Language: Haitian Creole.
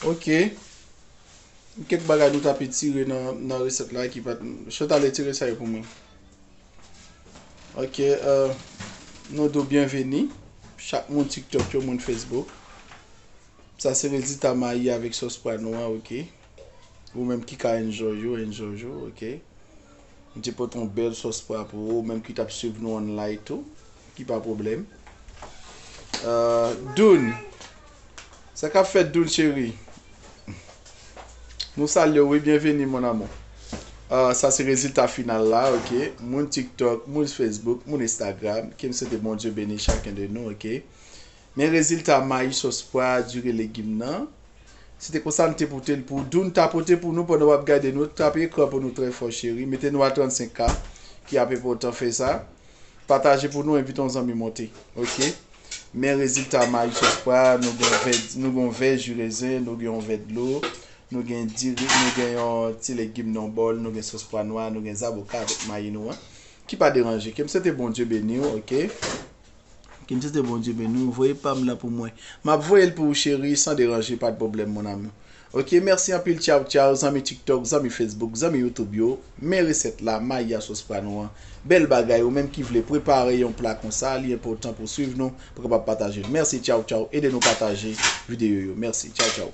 Ok. Gen kèk bagay nou ta petire nan resèt la ki pat. Chè ta letire sa yo pou mwen. Ok. Euh, nou do byenveni. Chak moun TikTok yo moun Facebook. Sa se rezita mayi avèk sòs pwa nwa ok. Ou menm ki ka enjoy yo, enjoy yo ok. M te pote yon bèl sòs pwa pou ou menm ki t ap swiv nou an live tou, ki pa pwoblèm. Doun, sa k ap fèt Doun cheri? Nou salye w wi, byenveni mon amou. Sa se rezilta final la ok. Moun tiktok, moun facebook, moun instagram, ke m swete Bondye beni chaken de nou ok. Men rezilta mayi sòs pwa a dure legim nan. Se te konsa m te pote l pou Doun tapote pou nou pandan w ap gade nou. Tape ekran pou nou trè fò cheri. Mete nou a 35 k ki ap enpòtan fè sa. Pataje pou nou envite yon zanmi monte. Ok. Men rezilta mayi sòs pwa a nou gen vè nou gen yon vè ji rezen nou gen yon vè dlo nou gen diri nou gen yon ti legim nan yon bòl nou gen sòs pwa nwa nou gen zaboka avèk mayi nou an ki pa deranje ke m swete Bondye beni w ok. Kintite Bondye beni w voye pam nan pou mwen map voyel pou ou cherie san deranje pat problèm mon amour ok merci anpil tchaw tchaw zanmi tiktok zanmi facebook zanmi youtube yo men resèt la mayi a sos pra nou an bèl bagay ou menm ki vle prepare yon pla konsa li enpotan pou swiv nou pou kapab patajel merci tchaw tchaw ede nou pataje video yo merci tchaw tchaw.